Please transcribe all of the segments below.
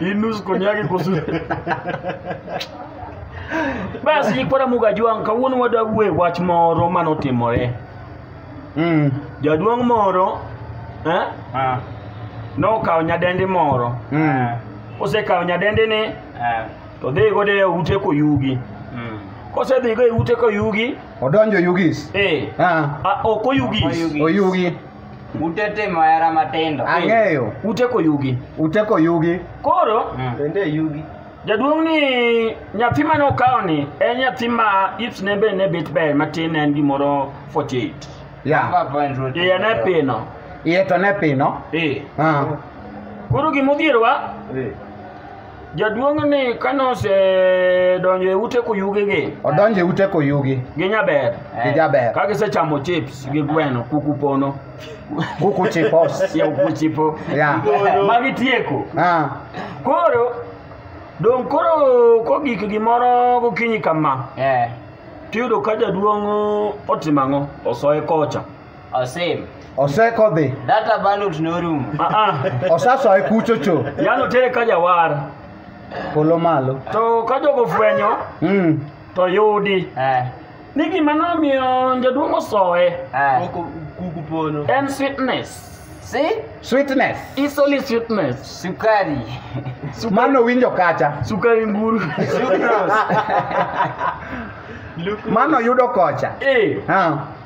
Hii nusu koni yake iko sura. Basi ikwara muga jwang' kawuono wadwa wuoye wach moro mane otimore. Mm. Jaduong' moro eh, Ah. nokawo nyadendi moro. Mm. Osekawo nyadendini Ah. to dhi godo e ute koyugi. Mm. Kosedhigo e ute koyugi, Odonjo Yugis. eh, Ah. a- ok oyugis. Oyugis. Oyugi. Ute timo hera matindo. Ang'eyo. Ute koyugi. Ute koyugi. Koro mm. bende yugi. Jaduong' ni nyathi mane okawo ni en nyathi ma hips ne be ne bet ber matin en gimoro 48. Yeah. Iye ne pino. Iye to ne pino. Eh. Ah. Koro gimodhierowa. Eh. Jaduong' ni kane osedonjo e ute kuyugi gi odonjo e ute koyugi gi nyaber gi jaber ka gisechamo chips gi gweno kuku pono kuku chipos ya kuku chipo ya ma gitieko ah koro dong' koro kogik gimoro gokinyi kama Eh. tiyudo ka jaduong' otimo ang'o osoye kocha Osem. osekodhi Data bundles norumo. Ah, ah. osasoye kuchocho Yano tere ka jawar. polo malo To ka jogo fwenyo mm. to yudi. Eh. Ni gima nomiyo jaduong' osoye Eh. Kuku pono. en sweetness. Si? sweetness It's only sweetness. Sukari. mano winjo kacha Sukari mburu. Sucrose. mano yudo kocha Eh. ha.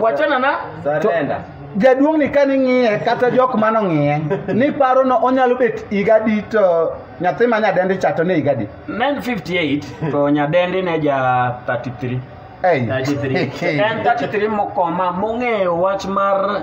wachana na Surrender. jaduong' ni kane ing'iye kata jok mane ong'iye ni paro no onyalo bet higa di to nyathi ma nyadendi cha to ne higa di 958 to nyadendi ne ja 33 Ei. 33 en 33 mokoma mong'eyo wach mar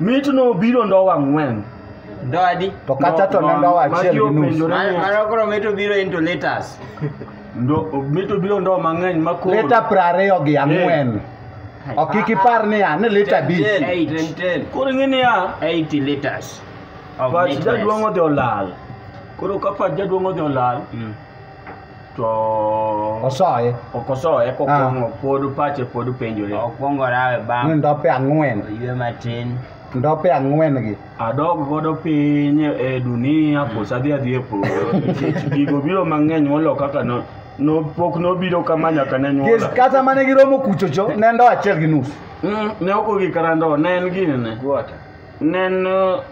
Mit no biro ndowa ang'wen. Ndo adi? To kacha to ne ndowa achiel gi nus. Mano koro mit obiro into letters. Ndo mit obiro ndowa mang'eny ma koro. Leta prariyo gi ang'wen. Yeah. Ok kik ipar niya ni lita abich. Koro ing'e niya. 80 liters. Pach jaduong' odhi olal. Koro ka pach jaduong' odhi olal. Mm. to osoye ok osoye kokwongo ah. pod pache pod penjore okwongo rawe bang ni ndope ang'wen oywe matin ndope ang'wen gi adog godo piny e dunia koso adhi adhi e polo nikech gigo biro mang'eny molo kaka no no pok nobiro kama nyaka ne nyuola kata mane giromo kuchocho ne ndo achiel gi nus mm, ne ok ogik kata ndo ne en gini ne Neno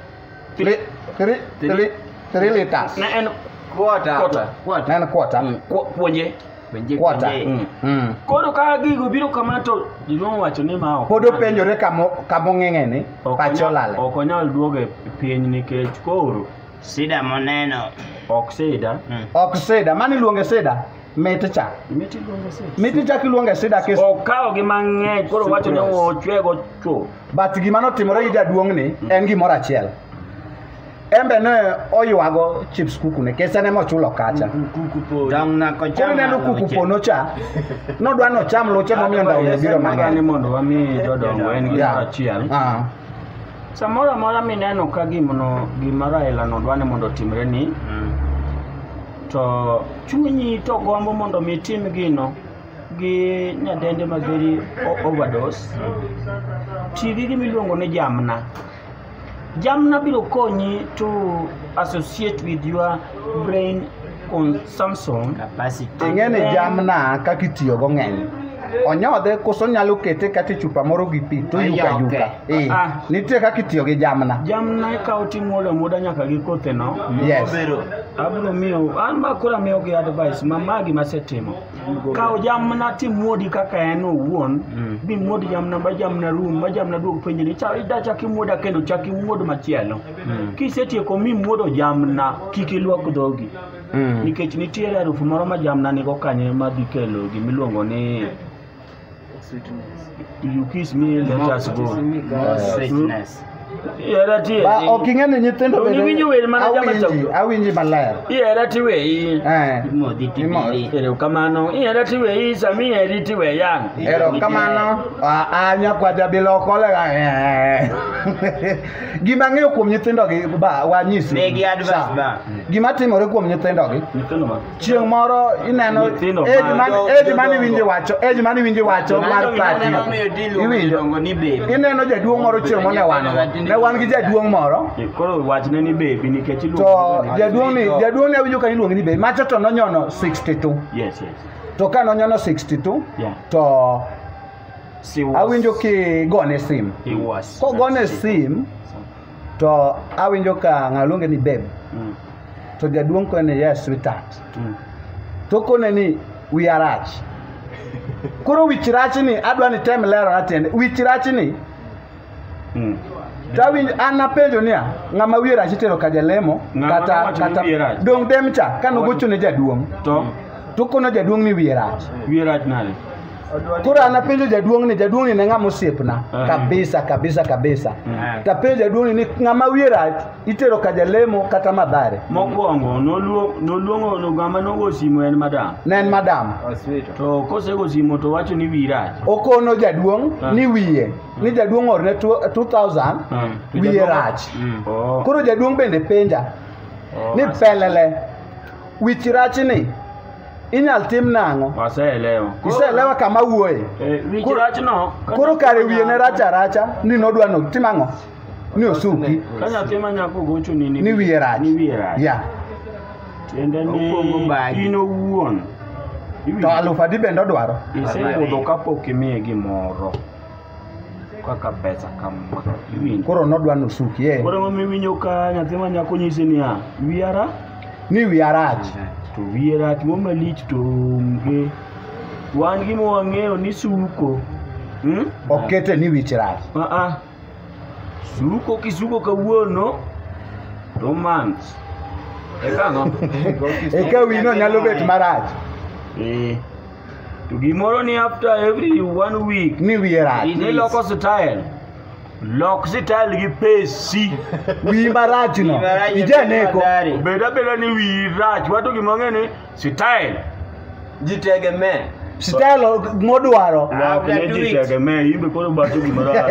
Tri, tri, tri, tri liters. na en Quarter. quarter. Quarter. Neno quarter. Mm, ku- Puonje. Puonje, Quarter. puonje. Mm. Mm. Koro ka gigo biro kama to jidong' wacho ni ma ok. Pod openjore kamo kamong'eng'e ni Ok pacho onya- lale. Ok onyal duogo e piny nikech koro Sida moneno. Ok sida. Mm. Ok sida, mano iluonge sida? Mit cha. Mit iluonge sida. Mit ichak iluonge sida kis. Okawo gi mang'eny koro wacho ni ochwego chuo. But gima notimore gi jaduong' ni mm. en gimoro achiel. Embe ne oywago chips kuku ne kese ne mochulo kacha. Mm, kuku po. Dang na ko chama. Kone no kuku po no cha. No dwa no cham loche momiyo ndawo biro mang'eny. Ni mondo wami jodongo en gimoro achiel. Ah. Samoro amora mineno ka gimno gima Raila no dwa ni mondo otimre ni Mm. to chunyi to gombo mondo mi tim gino gi nyadende mageri o- overdose ti gi gima iluongo ni jamna jamna biro konyi to associate with your brain kun Samson capacity. Ing'eni jamna kaka itiyogo ng'eny. Onyodhe koso nyalo kete kata e chupa moro gi pi to yuka yuka. Eh, Ah. nitie kaka itiyo gi jamna. jamna ikawo timuodo amuoda nyaka gi kotheno Yes. abiro miyo an ma koro amiyo gi advice ma ma gima asetimo kawo jamna timuodi kaka en owuon bimuodi jamna ma jamna rum ma jamna duog penjni ichak imuoda kendo chak imuod machielo Mm. kisetieko mimuodo jamna kik ilwak dhogi Mm. nikech nitiere harufu moro ma jamna nigo kanye ma dhi kelo gimiluongo ni you kiss me let us go More sweetness. ihera Ba, tieri ok ing'e ni nyithindo To bende- niwinjo wer mana jama awinji chagu. awinji maler ihera tiweyi Eh, Imodhi Imo- tibili. erokamano ihera tiweyi sami iheri tiwe yang erokamano Ah, ah, nyakwaja bilokolega gima ng'eyo kuom nyithindogi ba wanyisi Migi advice Sa, ba. gima timore kuom nyithindogi Nyithindo ma. chieng' moro ineno Nyithindo ma- age mane- jo- age mane jodongo. iwinjo wacho age mane iwinjo wacho mar Mano gima pati neno miyo dilu iwinjo iluongo ni baby. ineno jaduong' moro chieng' moro ne wan ne wan gi jaduong' moro Eh, Koro wachne ni baby nikech to iluongo ni- jaduong' ni jaduong' ne awinjo ka iluongo ni be macho to nonyono 62 Yes, yes. to ka nonyono 62 Yeah. to She was, awinjo kigone sim he was. kogone sim to awinjo ka ng'ano luonge ni babe Mm, to jaduong' kone ni yes sweetheart mm. to kone ni wiya rach koro wich rachni adwa ni tem lero na tiende wich rachni Mm. Tawinj an napenjo niya, ng'ama wiye rach itero ka jalemo Ng'ama kata nowacho ni kata wiye rach. dong dem cha kane ogocho ne jaduong' To to kono jaduong' ni wiye rach. wiye rach nade? Koro an napenjo jaduong' ni jaduong' ni ne ng'ama osiepna Ah. kabisa kabisa kabisa. Ah. Tapenjo jaduong' ni ni ng'ama wiye rach itero ka jalemo kata madhare. Mokwongo noluo- noluongo no ng'ama nogo simo en madam. Ne en madam. To kosego simo to wacho ni wiyi rach. Okono jaduong' Ah. ni wiye ni jaduong' orne two- 2000 Mm. wiye rach Mm. Oh. koro jaduong' bende penja Oh, ni as- pelele wich rachni inyal tim nang'o Waseelewa. iseelewa kama wuoye Eh, wich Koro- rachno. ka koro nyathi kare ma wiye ne nyako- racha racha ni nodwa no tim ang'o ni osuki Ka nyathi ma nyako gocho ni ni wiye rach Ni wiye rach. ya Tiende ni Okwongo bagi. in owuon. to alufu adi bende odwaro Isebudho kapok imiye gimoro. kaka pesa kama iwinjo koro nodwa nusuki ye koro mama iwinjo ka nyathi ma nyako nyisi niya wiyara ni wiya rach to wiye rach mo malich to onge wan gima wang'eyo ni suko hmm? okete ni wich rach Aa, suko kisuko kawuono to month eka ang'o? eka wino nyalo bet marach Eh, To gimoro ni after every one week Ni wiye rach. idhi loko style. Lok style gi pesi. Wiyi marach no. Ijaneko. Bed abeda ni wiyi rach, wato gima ong'e ni style. jitegemee Style modwaro. Lok ne do ji it. tegemee, in be koro bato gima rach.